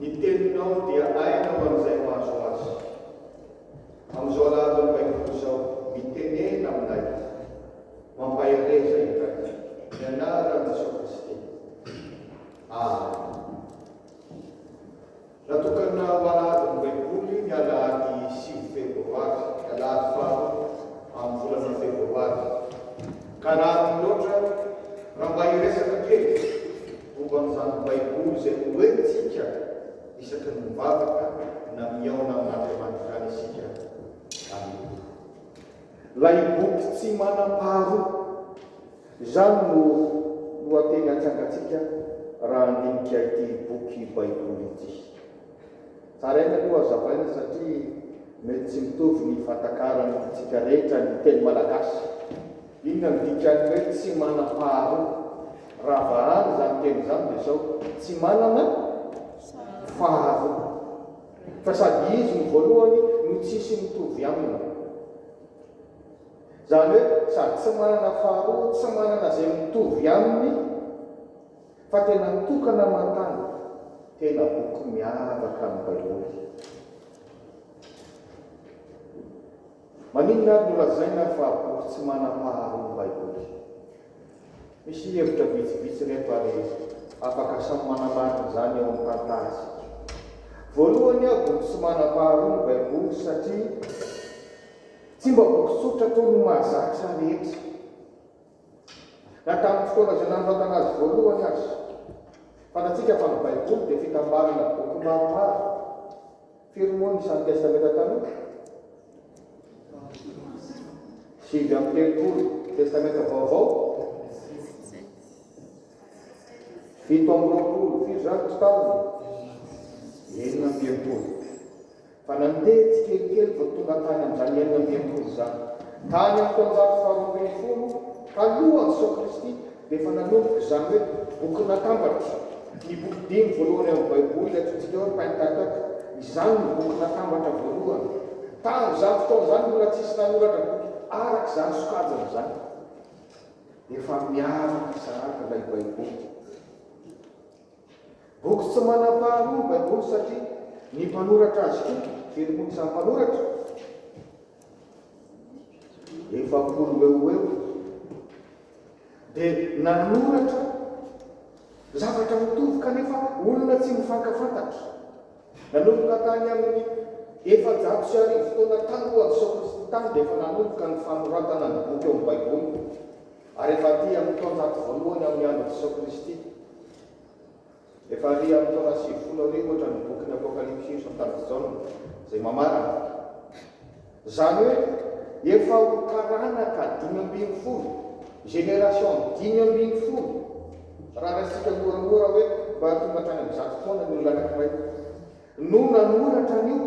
Ny teninao dia aina ho an'izay mahazo azy. Amin'izao lahateny Baiboly izao, mitenena aminay mampahereza iray ny anaran'i Jesoa Kristy. Amen. Natokana ho alahadin'ny Baiboly ny alahady sivy febroary, ny alahady faharoa amin'ny volana febroary. Ka raha ady loatra, raha mba hiresaka kely, Momba an'izany Baiboly izay norentsika isaky ny mivavaka na mihaona amin'Andriamanitra any isika. Amena. Ilay boky tsy manam-paharoa. Izany no lohateny atsangantsika raha handinika ity boky Baiboly ity. Taraina aloha hazavaina satria mety tsy mitovy ny fahatakarantsika rehetra ny teny malagasy. Inona no dikan'ny hoe tsy manam-paharoa? Raha vahana izany teny izany dia sao tsy manana faharoa. Ka sady izy no voalohany no tsisy mitovy aminy. Izany hoe sady tsy manana faharoa, tsy manana izay mitovy aminy. Fa tena tokana aman-tany, tena boky miavaka ny Baiboly. Maninona ary no lazaina fa boky tsy manam-paharoa ny Baiboly? Misy hevitra vitsivitsy ireto ary afaka samy manamarina izany eo amin'ny tantarantsika. Voalohany, boky tsy manam-paharoa ny Baiboly satria tsy mba boky tsotra toy ny mahazatra rehetra. Na tamin'ny fotoana izay nanoratana azy voalohany aza. Fantatsika fa ny Baiboly dia fitambarana boky maromaro, firy moa ny isan'ny Testamenta Taloha? Sivy amby telopolo. Ny Testamenta Vaovao? Fito amby roapolo. Firy izany ny taoniny? Enina amby enimpolo. Fa nandeha tsikelikely vao tonga tany amin'izany enina amby enimpolo izany. Tany amin'ny taonjato faharoa ambin'ny folo talohan'i Soa Kristy dia efa nanomboka izany hoe boky natambatry ny boky dimy voalohany ao amin'ny Baiboly ilay antsointsika hoe Pentateuch. Izany no boky natambatra voalohany. Tamin'izany fotoana izany mbola tsisy nanoratra boky araka izany sokajiny izany. Efa miavaka sahady ilay Baiboly. Boky tsy manam-paharoa ny Baiboly satria ny mpanoratra azy koa dia ny boky izany mpanoratra, efapolo eo ho eo, dia nanoratra zavatra mitovy kanefa olona tsy mifankafantatra. Nanomboka tany amin'ny efajato sy arivo taona talohan'izao Kristy tany dia efa nanomboka ny fanoratana ny boky ao amin'ny Baiboly. Ary efa aty amin'ny taonjato voalohany amin'ny andron'i Jesoa Kristy, efa ary amin'ny taona sivifolo arivo ohatra ny bokin'ny Apokalypsy io Santalin'i Jaona izay mamarana. Izany hoe efa ho taranaka dimy ambin'ny folo, génération dimy ambin'ny folo, raha raisitsika moramora hoe mba tonga hatrany amin'ny zato taona ny olona anankiray. no nanoratra an'io,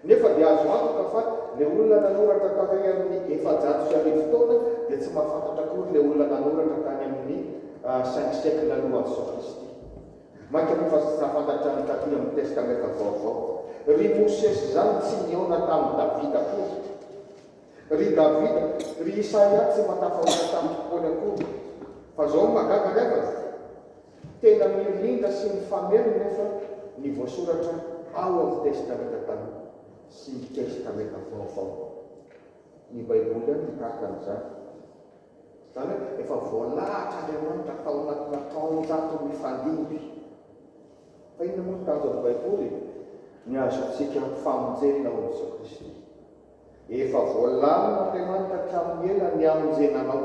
nefa dia azo antoka fa le olona nanoratra tarehy amin'ny efajato sy arivo taona dia tsy mahafantatra akory le olona nanoratra tany amin'ny cinq siècle alohan'i Jesoa Kristy. Mainka moa fa tsy tafantatra ny taty amin'ny Testamenta Vaovao. Ry Mosesy izany tsy nihaona tamin'i Davida akory. Ry Davida, ry Isaia tsy mba tafahoatra tamin'ny fotoany akory. Fa zao ny mahagaga ry havana. Tena mirindra sy mifameno nefa ny voasoratra ao amin'ny Testamenta Taloha sy ny Testamenta Vaovao. Ny Baiboly ihany no tahaka an'izany. Izany hoe efa voalahatr'Andriamanitra tao anatina taonjato mifandimby. Fa inona moa ny tanjon'ny Baiboly e? Ny hahazoantsika famonjena ao amin'i Jesoa Kristy. Efa voalamina Andriamanitra hatramin'ny ela ny hamonjenanao.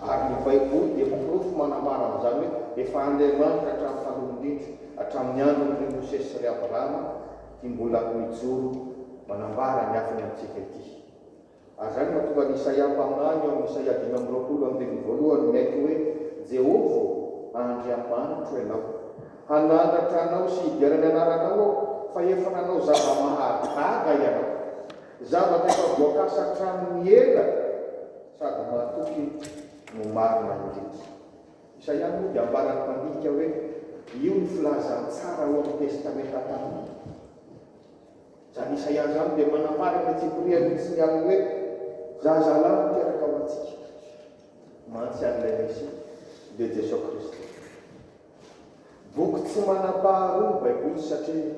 Ary ny Baiboly dia porofo manambara an'izany hoe efa Andriamanitra hatramin'ny taloha indrindra, hatramin'ny andron'i ry Mosesy sy ry Abrahama, ity mbola mijoro manambara ny hafiny amintsika ity. Ary izany no mahatonga an'i Isaia mpaminany eo amin'ny Isaia dimy amby roapolo andininy voalohany miaiky hoe Jehovah ô, Andriamanitro ianao. Hanandratra anao sy hidera ny anaranao aho, fa efa nanao zava-mahagaga ianao, zavatra efa voakasa hatramin'ny ela sady matoky no marina indrindra. Isaia moa dia ambaran'ny mpandinika hoe io ny filazantsara ao amin'ny Testamenta Taloha. Izany Isaia izany dia manambara amin'ny antsipiriany tsy mialona hoe zazalahy no teraka ho antsika, mantsy an'ilay Mesia, dia Jesoa Kristy. Boky tsy manam-paharoa ny Baiboly satria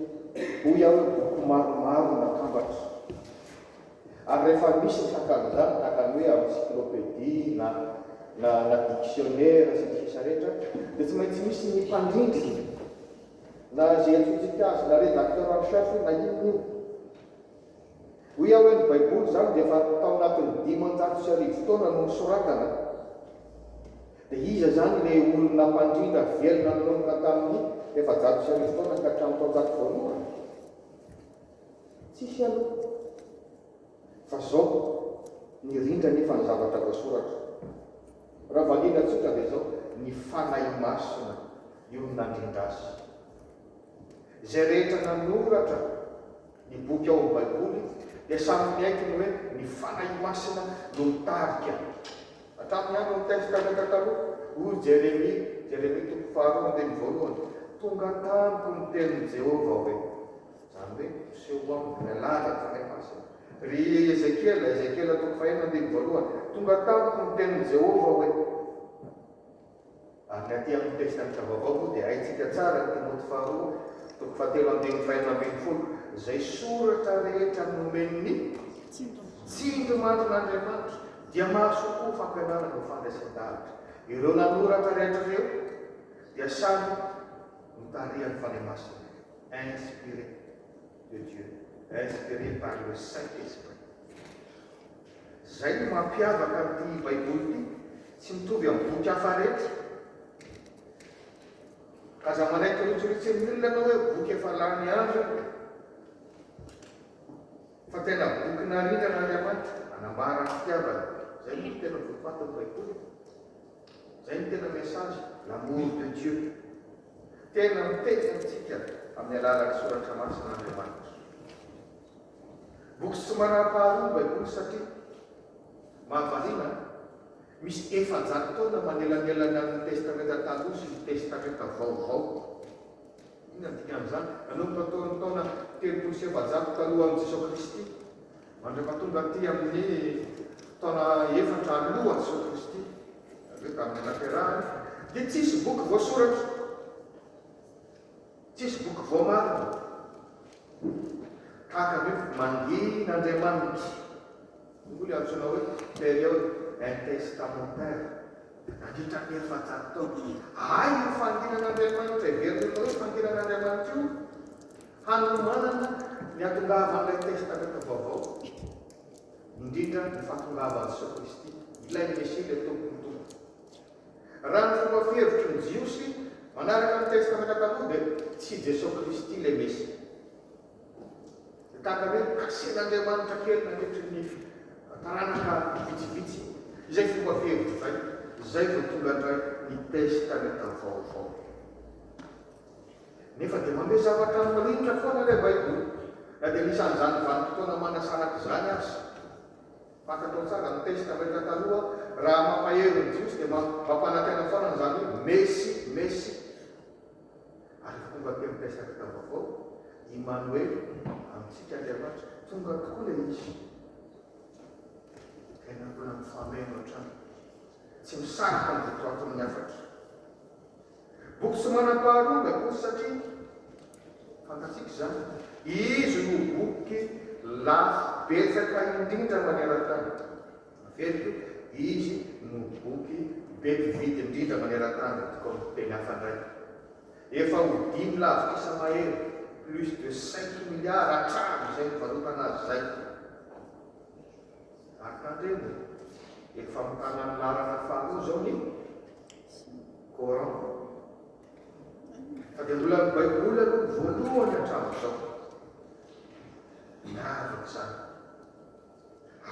hoy aho fa boky maromaro natambatra. Ary rehefa misy ny hakan'izany, tahaka ny hoe encyclopédie na na na dictionnaire sy ny sisa rehetra, dia tsy maintsy misy ny mpandrindrina na izay antsointsika azy na rédacteur en chef na inona inona. Hoy aho hoe ny Baiboly izany dia efa tao anatin'ny dimanjato sy arivo taona no nosoratana. Dia iza izany ilay olona mpandrindra velona nanomboka tamin'ny efajato sy arivo taona ka hatramin'ny taonjato voalohany? Tsisy aloha. Fa izao, nirindra anefa ny zavatra voasoratra. Raha valiana tsotra dia izao, ny Fanahy Masina io no nandrindra azy. Izay rehetra nanoratra. Ny boky ao amin'ny Baiboly dia samy miaiky ny hoe ny Fanahy Masina no mitarika. Hatramin'ny andron'ny Testamenta Taloha, hoy i Jeremia, Jeremia toko faharoa andininy voalohany, Tonga tamiko ny tenin'i Jehovah hoe, izany hoe miseho ho aminy ilay lanja ny Fanahy Masina. Ry Ezekiela, Ezekiela toko fahenina andininy voalohany, Tonga tamiko ny tenin'i Jehovah hoe. Amin'ny aty amin'ny Testamenta Vaovao moa dia haintsika tsara ny Timoty faharoa toko fahatelo andininy fahenina ambin'ny folo, Izay soratra rehetra nomen'ny tsindry marin'Andriamanitra dia mahasoa koa ho fampianarana ho fandraisan-davitra. Ireo nanoratra rehetra ireo dia samy notarihan'ny Fanahy Masina ireo, inspiré de Dieu, inspiré par le Saint-Esprit. Izay no mampiavaka an'ity Baiboly ity, tsy mitovy amin'ny boky hafa rehetra. Aza manaiky rotsoritsin'ny olona ianao hoe boky efa lany andro io, fa tena boky naringan'Andriamanitra, anambara ny fitiavany. Izay moa no tena votoatin'ny Baiboly e. Izay no tena message, l'amour de Dieu. Tena miteny amintsika amin'ny alalan'ny Soratra Masina Andriamanitra. Boky tsy manam-paharoa ny Baiboly satria, mahavariana, misy efajato taona manelanelana ny Testamenta Taloha sy ny Testamenta Vaovao. Inona no dikan'izany? Nanomboka tao amin'ny taona telopolo sy efajato talohan'i Jesoa Kristy mandrapa tonga aty amin'ny taona efatra alohan'i Jesoa Kristy, izany hoe tamin'ny nahaterahany, dia tsisy boky voasoratra. Tsisy boky voamarina tahaka ny hoe Mangin' Andriamanitra, hoy ilay antsoina hoe période intertestamentaire. Nandritra ny efajato taona dia hay io fanginan' Andriamanitra heverina atao hoe fanginan' Andriamanitra io hanomanana ny hatongavan' ilay Testamenta Vaovao, indrindra ny fahatongavan' i Jesoa Kristy, ilay Mesia, ilay Tompon'ny tompo. Raha ny fomba fihevitry ny Jiosy manaraka ny Testamenta Taloha dia tsy i Jesoa Kristy ilay Mesia. Dia tahaka ny hoe asehan'Andriamanitra kely nandritry ny taranaka vitsivitsy izay fomba fihevitra izay, izay vao tonga indray ny Testamenta Vaovao. Nefa dia manome zavatra mirinitra foana ilay Baiboly, na dia anisan'izany vanim-potoana manasaraka izany aza. Fantatrao tsara ny teste rehetra taloha raha mampahery ny jiosy dia mba mampanaty aina foana an'izany Messi Messi ary efa tonga aty amin'ny teste akata vaovao Imanoely amintsika Andriamanitra tonga tokoa ilay izy tena mbola mifameno hatrany tsy misaraka ny votoatin'ny hafatra. Boky tsy manam-paharonga akory satria fantatsika izany, izy no boky lafo betsaka indrindra maneran-tany. Naveriko io, izy no boky be mpividy indrindra maneran-tany raha tokony ho teny hafa indray. Efa ho dimy lavitrisa mahery, plus de cinq milliards, hatramin'izay nivarotana azy izay. Ary tandremo e! Efa famokarana ny laharana faharoa izao ny Coran. Fa dia mbola ny Baiboly aloha ny voalohany hatramin'izao. Miavaka izany.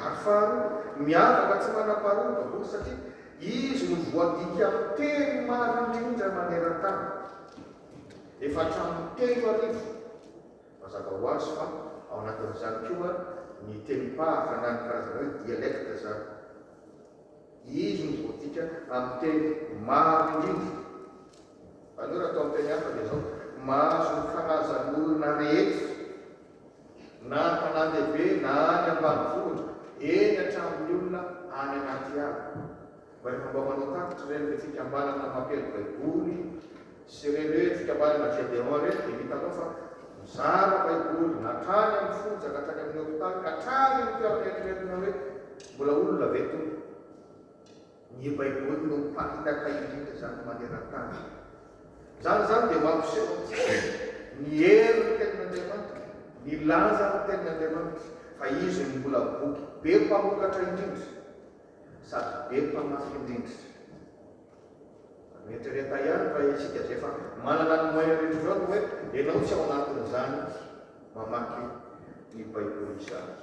Ary faharoa, miavaka tsy manam-paharoa ny Baiboly satria izy no voadika amin'ny teny maro indrindra maneran-tany. Efa hatramin'ny telo arivo. Mazava ho azy fa ao anatin'izany koa ny tenim-pahaka na ny karazana hoe dialecte izany. Izy no voadika amin'ny teny maro indrindra. Aleo raha atao amin'ny teny hafa dia izao, mahazo ny karazan'olona rehetra, na any tanàn-dehibe na any ambanivohitra, eny hatramin'ny olona any anaty ala. Rehefa mba manao tatitra ireny hoe fikambanana mampiely Baiboly sy ireny hoe fikambanana Gedeon ireny dia hitanao fa mizara Baiboly hatrany amin'ny fonja ka hatrany amin'ny hopitaly ka hatrany amin'ny toerana eritreretina hoe mbola olona ve Tompo? Ny Baiboly no mpamitaka indrindra izany maneran-tany. Izany izany dia mampiseho amintsika ny herin'ny Tenin'Andriamanitra, ny lanjan'ny Tenin'Andriamanitra, fa izy no mbola boky be mpamokatra indrindra. sady be mpamafin'rindrina. Fa mieritrereta ihany raha isika izay efa manana ny moyen rehetra izao no hoe ianao tsy ao anatin'izany mamaky ny Baiboly izany.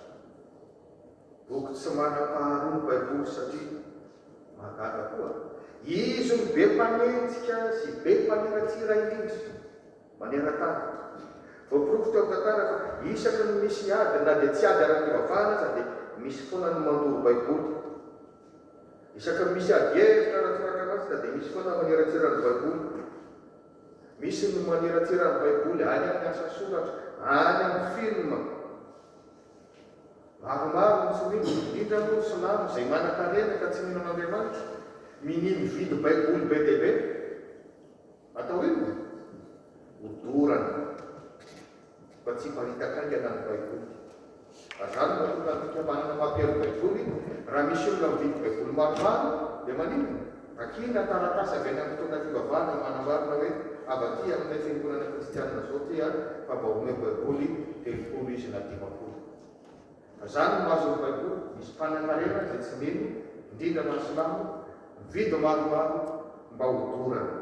Boky tsy manam-paharoa ny Baiboly satria mahagaga koa izy no be mpanenjika sy be mpaniratsira indrindra. Maneran-tany. Voaporofo teo amin'ny tantara fa isaky ny misy ady na dia tsy ady ara-pivavahana aza dia misy foana ny mandoro Baiboly. Isaky ny misy adihevitra ara-tsoratra masina dia misy foana ny maniratsira ny Baiboly. Misy ny maniratsira ny Baiboly any amin'ny asa soratra, any amin'ny filma. Maromaro ny tsy mino, indrindra moa ny silamo izay manankarena ka tsy mino an'Andriamanitra. Minia mividy Baiboly be dia be. Atao inona? Odorana. Mba tsy hiparitaka haingana ny Baiboly. Azany no mahatonga ny fikambanana mampiheno ny Baiboly. Raha misy olona mividy Baiboly maromaro, dia maninona? Takiana taratasy avy any amin'ny mpitondra fivavahana manambarana hoe, Avadỳ amin'ilay fiangonana kristianina izao ity aho, fa mba omeo Baiboly telopolo izy na dimampolo. Zany no mahazo ny baiboly misy mpanankarena izay tsy mino indrindra fa ny silamo mividy maromaro mba ho dorana.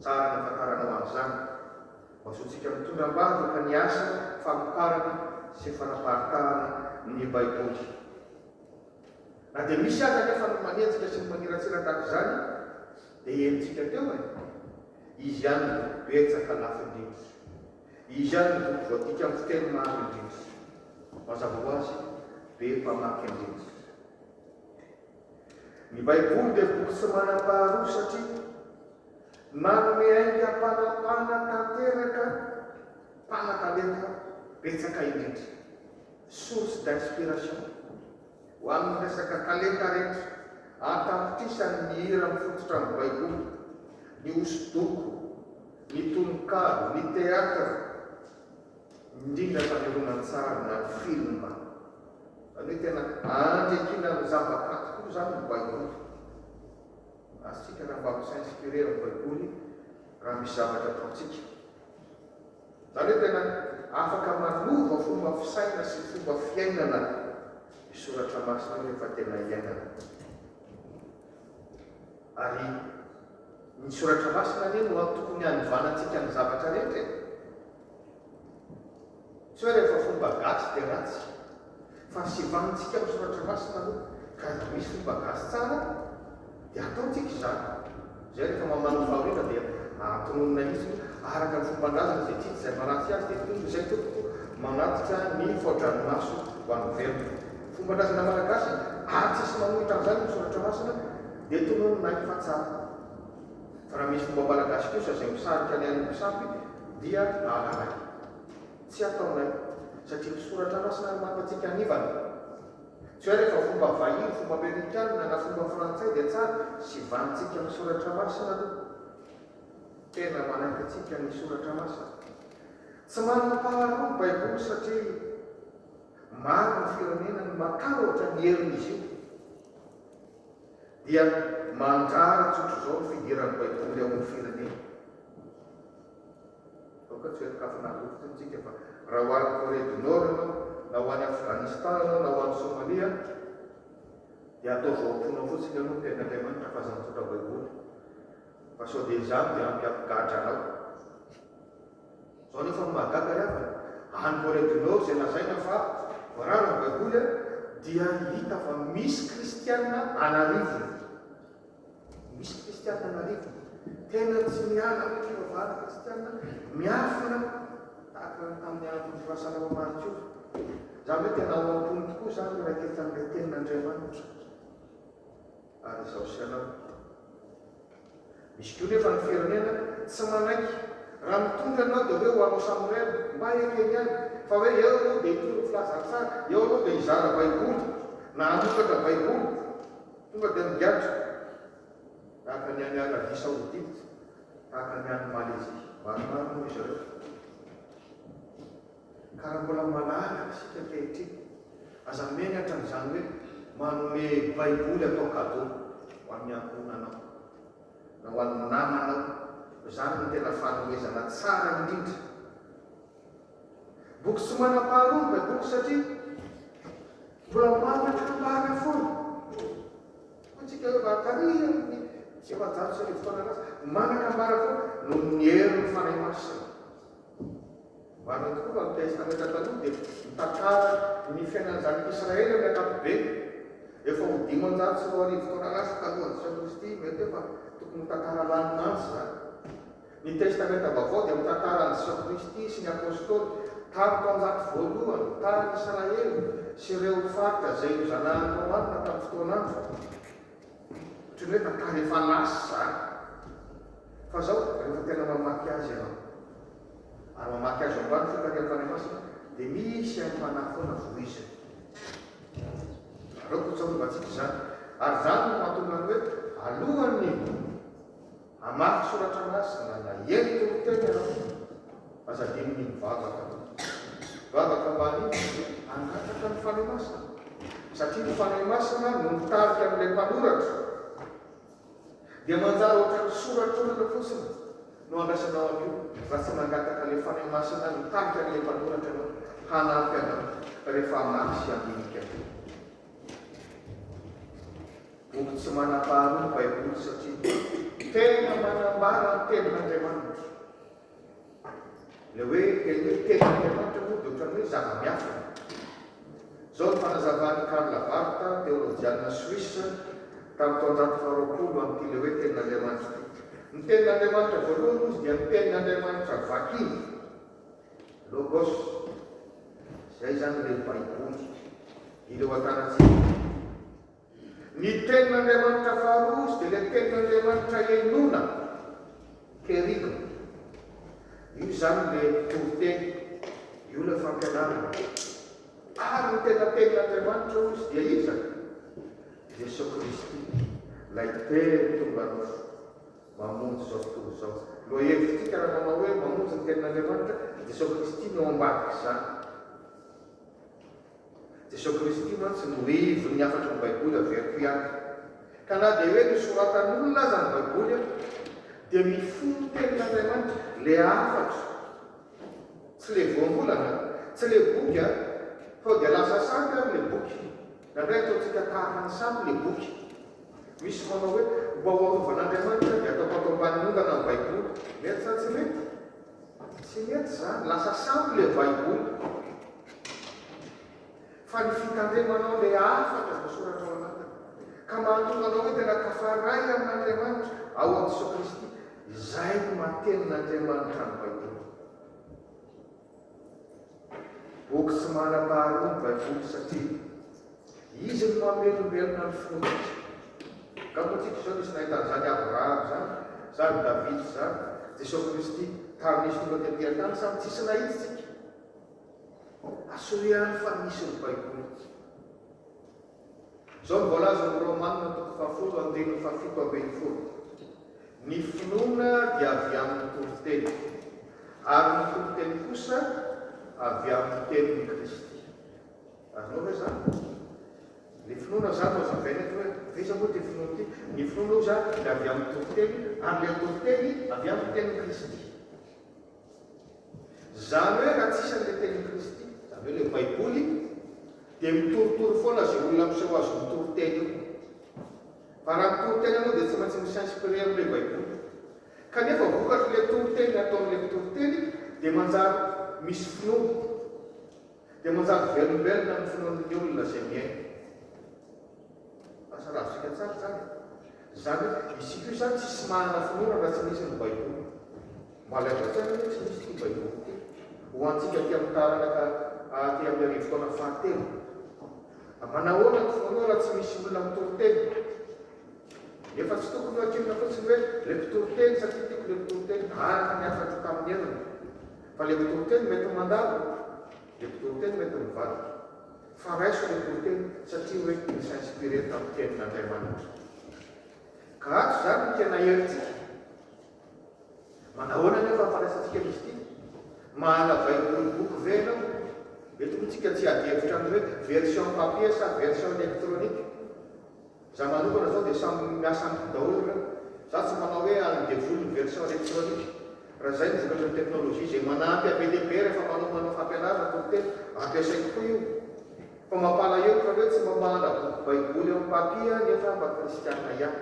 Tsara ny afantaranao an'izany mba zontsika mitondra ambadika ny asa famokarana sy fanaparitahana ny baiboly. Na dia misy aza anefa ny manenjika sy ny maniratsira tahaka izany dia henontsika teo e! Izy ihany no betsaka lafindrindra. Izy ihany no tokony voadika amin'ny fiteny maro indrindra. Mazava ho azy, be mpamaky andrindra ny Baiboly dia boky tsy manam-paharoa satria nanome aingam-panapahana tanteraka mpanatalenta betsaka indrindra, source d'inspiration. Ho amin'ny resaka talenta rehetra, an-tapitrisany ny hira mifototra amin'ny Baiboly, ny hosodoko, ny tononkalo, ny teatra, indrindra fa ny horonantsary na ny filma. Izany hoe tena andriakina amin'ny zava-kanto koa izany ny Baiboly. Azontsika angamba mi-s'inspirer amin'ny Baiboly raha misy zavatra ataontsika. Izany hoe tena afaka manova fomba fisaina sy fomba fiainana io soratra masina io rehefa tena iainana. Ary ny soratra masina anie no tokony hanovanantsika ny zavatra rehetra e! Tsy hoe rehefa fomba gasy dia ratsy. Fahasevantsika amin'ny Soratra Masina aloha, ka raha misy fomba gasy tsara dia ataontsika izany. Izay rehefa mamaly ny fahoriana dia atononina hitsiny hoe araka ny fomban-drazana izay tiany izay maratsy azy dia tompony izay tompoko manatitra ny faodranomaso ho an'ny velona. Fomban-drazana malagasy ary tsisy manohitra an'izany ny Soratra Masina dia tononina any fa tsara. Fa raha misy fomba malagasy kosa izay misarika ny an'ny mpisampy dia alalay. Tsy ataonay, satria ny Soratra Masina no mampy antsika hanivana. Tsy hoe rehefa fomba vahiny, fomba amerikanina, na fomba frantsay dia tsara, sivanintsika ny Soratra Masina aloha. Tena manaiky antsika ny Soratra Masina. Tsy manam-paharoa ny Baiboly satria maro ny firenena no matahotra ny herin'izy io. Dia mandrara tsotr'izao ny fidiran'ny Baiboly ao amin'ny firenena. Aoka tsy ho ianakavana aloha fotsiny isika fa raha ho any Corée du Nord ianao, na ho any Afghanistan ianao, na ho any Somalia, dia ataovy ao am-ponao fotsiny aloha ny tenin'Andriamanitra fa aza mitondra Baiboly fa sao dia izany dia hampiavigadra anao. Izao anefa no mahagaga ry havana, any Corée du Nord izay lazaina fa voarara ny Baiboly dia hita fa misy kristiana an'arivony. Misy kristiana marina tena tsy miala amin'ny fivavahana kristiana miafina tahaka ny tamin'ny andron'ny firasana ho maritiora. Izany hoe tena ao am-pony tokoa izany ny raiketsa amin'ilay Tenin'Andriamanitra. Ary izaho sy ianao. Misy koa nefa ny firenena tsy manaiky. Raha mitondra ianao dia hoe ho anao samy reraka, mba ekeny ihany. Fa hoe eo ianao dia hitory ny filazantsara, eo ianao dia hizara Baiboly na hanokatra Baiboly, Tonga dia migadra tahaka ny any Arabia Saodita, tahaka ny any Malezia. Maromaro moa ry zareo fa karambola malala isika ankehitriny. Aza menatra amin'izany hoe manome Baiboly atao cadeau ho an'ny ankohonanao na ho an'ny namanao, fa izany no tena fanomezana tsara indrindra. Boky tsy manam-paharoa ny Baiboly satria mbola manana kambana foana. Hoy tsika hoe valo taria amin'ny efajato sy arivo taona lasa, manana kambana foana noho ny herin'ny Fanahy Masina. Marina tokoa fa ny Testamenta Taloha dia mitantara ny fiainan'ny zanak'i Israely amin'ny ankapobeny. Efa ho dimanjato sy roa arivo taona lasa talohan'i Jesoa Kristy, mety hoe fa tokony ho tantara lany mantsy izany. Ny Testamenta Vaovao dia mitantara an'i Jesosy Kristy sy ny Apôstôly tamin'ny taonjato voalohany, tany Israely sy ireo faritra izay nozanahan'i Roanina tamin'ny fotoan'androny. Ohatry ny hoe tantara efa lasa izany. Fa izao, rehefa tena mamaky azy ianao, ary mamaky azy ao ambany fitarihan'ny Fanahy Masina, dia misy aim-panahy foana voiziny. Aleo ho tsarovan-tsika izany. Ary izany no mahatonga ny hoe, alohan'ny. Hamaky soratra masina na hiely toriteny ianao, aza adinony ny mivavaka. Mivavaka mba hanimba dia hangataka ny Fanahy Masina, satria ny Fanahy Masina no mitarika an'ilay mpanoratra. Dia manjary ohatran'ny soratr'olona fotsiny no andrasanao an'io raha tsy nangataka ilay Fanahy Masina mitarika an'ilay mpanoratra ianao hanampy anao rehefa hamaky sy handinika. Boky tsy manam-paharoa ny Baiboly satria tena manambara ny tenin'Andriamanitra. Ilay hoe teny hoe tenin'Andriamanitra moa dia ohatran'ny hoe zava-miafina. Izao ny fanazavan'i Karl Barth, teolojianina Suisse, tamin'ny taonjato faharoapolo amin'ity ilay hoe tenin'Andriamanitra ity. Ny tenin'Andriamanitra voalohany moa izy dia ny tenin'Andriamanitra vakina. Logos, izay izany ilay Baiboly, ireo antanantsika. Ny Tenin'Andriamanitra faharoa izy dia ilay Tenin'Andriamanitra henoina, kerygma. Io izany ilay toriteny, io ilay fampianarana. Ary ny tena Tenin'Andriamanitra hoy izy dia iza? Jesoa Kristy, ilay Teny tonga nofo. mamonjy izao tontolo izao. Lohahevitr'isika raha manao hoe mamonjy ny tenin'Andriamanitra, i Jesoa Kristy no ao ambadik'izany. Jesoa Kristy mantsy no ivon'ny hafatry ny Baiboly averiko ihany. Ka na dia hoe nosoratan'olona aza ny Baiboly, dia mifono tenin'Andriamanitra ilay hafatra. Tsy ilay voambolana, tsy ilay boky, sao dia lasa sampy ary ilay boky. Indraindray ataontsika tahaka ny sampy ilay boky. Misy manao hoe, Mba ho arovan'Andriamanitra dia ataoko ato ambanin'ny ondana ny Baiboly. Mety sa tsy mety? Tsy mety izany. Lasa sampy ilay Baiboly. Fa ny fitandremanao ilay hafatra voasoratra ao anatiny, ka mahatonga anao hoe tena tafaray amin'Andriamanitra ao amin'i Jesoa Kristy, izay no maha tenin'Andriamanitra ny Baiboly. Boky tsy manam-paharoa ny Baiboly satria izy no mamelombelona ny fontsika. Ka moa tiako izao nisy nahita an'izany Abrahama izany, izany Davida izany, Jesoa Kristy tamin'izy tonga teto an-tany sa tsisy nahitantsika? Asolo ihany fa misy ny Baiboly. Izao no voalazan'ny Romanina toko fahafolo andininy fahafito ambin'ny folo, Ny finoana dia avy amin'ny toriteny, ary ny toriteny kosa avy amin'ny tenin'i Kristy. Azonao ve izany? Ny finoana izany no hazavaina eto hoe ve iza moa ity finoana ity? Ny finoana hoy izaho dia avy amin'ny toriteny, ary ilay toriteny avy amin'ny tenin'i Kristy. Izany hoe raha tsy isan' ilay tenin'i Kristy, izany hoe ilay Baiboly, dia mitorotoro foana izay olona miseho azy ho mitoriteny io. Fa raha mitoriteny ianao dia tsy maintsy mi-s'inspirer amin'ilay Baiboly. Kanefa vokatr' ilay toriteny nataon'ilay mpitoriteny dia manjary misy finoana. Dia manjary velombelona ny finoan'ny olona izay mihaino. Lasa ravintsika tsara izany e! Izany hoe, isika io izany tsisy manana finoana raha tsy misy ny Baiboly. Malaelo hatrany anie tsy misy ity Baiboly ity, ho antsika aty amin'ny taranaka aty amin'ny arivo taona fahatelo. Manahoana ny finoanao raha tsy misy olona mitory teny? Nefa tsy tokony ho adinona fotsiny hoe ilay mpitory teny satria tiako ilay mpitory teny, araka ny hafatro tamin'ny heviny. Fa le mpitoriteny mety mandalo, le mpitoriteny mety mivadika. Fa raiso le toriteny satria hoe ny s'inspirer tamin'ny tenin'Andriamanitra. Ka ato izany no tena herintsika. Manahoana anefa ny fandraisantsika an'izy ity? Mahala Baiboly boky ve ianao? Eto moa tsika tsy hiady hevitra amin'ny hoe version papier sa version electronique. Za manokana zao de samy miasa amiko daholo ra za tsy manao hoe alin devoly ny version electronique ra zay no vokatry ny technologie ze manampy à BTP refa manao manao fampianarana tory teny ampiasaiko koa io fa mampalahelo ka hoe tsy mba mahandra boky baiboly am papia nefa mba kristiana iany.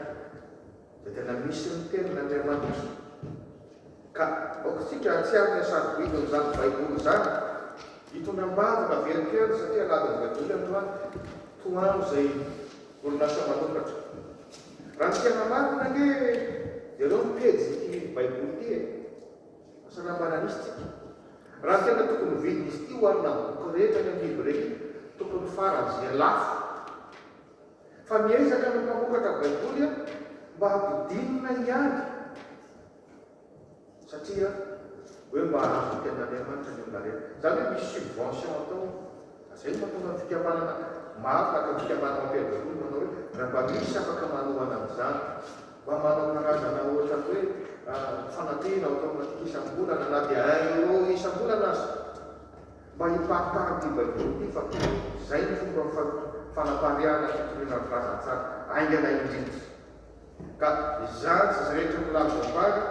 Dia tena misy ny tenin'Andriamanitra. Ka aoka isika hahatsiaro ny hasarobidinin'izany Baiboly izany. Hitondra am-bavaka velin-kany satria aladin'ny Baiboly androany, toa an'izay orinasa manokatra. Raha ny fiainana marina ange dia ireo ny pejin'ity Baiboly ity e! Asa raha mba nanisy tsika? Raha tena tokony ho vidin'izy ity oharina amin'ny boky rehetra any amin'ny librairie, tokony faran'izay lafo. Fa miezaka ny mpamokatra Baiboly an mba hampidinina ihany satria hoe mba hahazo teny Andriamanitra ny olona rehetra. Izany hoe misy subvention atao. Ka izay no mahatonga ny fikambanana maro tahaka ny fikambanana Mapera Baiboly manao hoe raha mba misy afaka manohana an'izany, mba manao karazana ohatran'ny hoe fanampiana ao ataonao isam-bolana na dia un euro isam-bolana aza. Mba hiparitahan'ity baiboly ity fa toa izay ny fomba fanapariahana fitoriana ny filazantsara haingana indrindra. Ka izany tsy izy rehetra milaza ho vary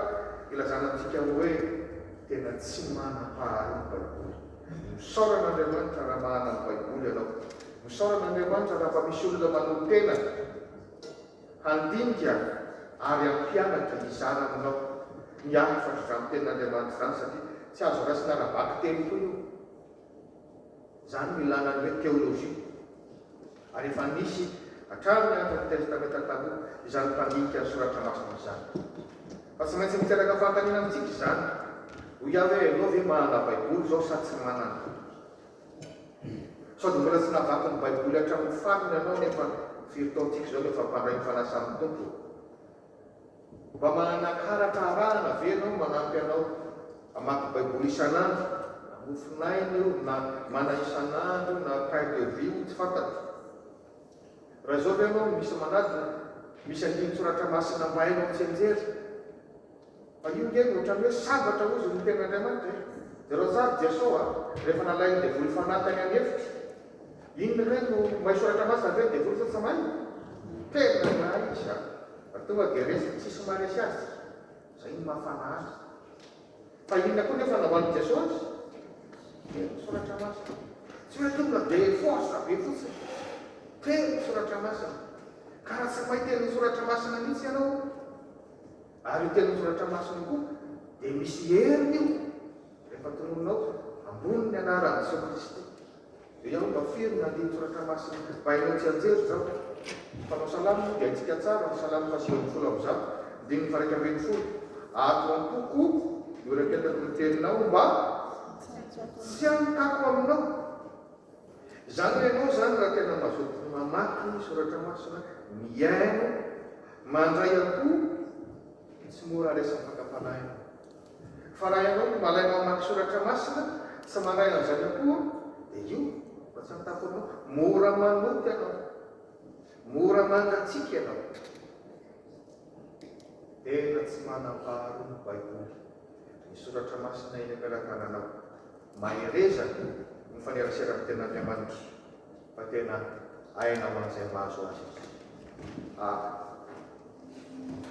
ilazana antsika hoe tena tsy manam-paharoa ny baiboly. Misaorana Andriamanitra raha mahana ny baiboly ianao. Misaorana Andriamanitra raha mba misy olona manolo-tena. Handinika ary hampianatra ny zaranao ny asa izany tenin'Andriamanitra izany satria tsy azo raisina ara-bakiteny foana io. Izany no ilàna ny hoe teolojia. Ary efa nisy hatramin'ny andron'ny Testamenta Taloha izany mpandinika ny soratra masina izany. Fa tsy maintsy miteraka fanontaniana amintsika izany. Hoy aho hoe ianao ve manana Baiboly izao sa tsy manana? Sao dia mbola tsy navaky ny Baiboly hatramin'ny farany ianao nefa firy taontsika izao no efa mpandray ny fanasan'ny Tompo? Mba manakaratra arahana ve ianao manampy anao hamaky Baiboly isan'andro? Na mofonaina io, na mana isan'andro io, na pain de vie io, tsy fantatro. Raha izao ve ianao misy manadina? Misy andinin-tsoratra masina mba hainao mitsianjery? Fa io nge no otrany hoe sambatra hozy ny tena Andriamanitra e! De reo tsary Jesoa rehefa nalainy devoly fanahy tany an efitra iny re no may soratra masina ve ny devoly sa tsy may? Tena mahay izy a! Fa tonga de resy tsisy maresy azy tsika! Zay no mahafana azy! Fa inona koa nefa nambaly Jesoa azy? Telo ny soratra masina! Tsy hoe tonga de force be fotsiny! Telo ny soratra masina! Ka raha tsy may telo ny soratra masina mihitsy ianao, Ary io tenin'ny Soratra Masina io koa dia misy heriny io rehefa tonononao ambony ny anaran'i Jesoa Kristy. Dia ianao mba firy ny andinin-tsoratra masina bainao tsianjery izao? Ny mpanao salamo moa dia haintsika tsara ny salamo fahasivy ambin'ny folo amby zato, andininy faharaika ambin'ny folo, Ato am-poko no iraketako ny teninao mba tsy hankako aminao. Izany ho ianao izany raha tena mazoto mamaky ny soratra masina, mihaino, mandray am-po dia tsy mora raisim-pakam-panahy ianao. Fa raha ianao no malaina mamaky soratra masina, tsy mandray an'izany am-po, dia io no tsy an-tampony anao. Mora manota ianao, mora mangatsiaka ianao. Tena tsy manam-paharoa ny Baiboly, ny soratra masina eny am-pelatananao. Mahereza ny faneraserako tena Andriamanitra fa tena aina ho an'izay mahazo azy. Amen.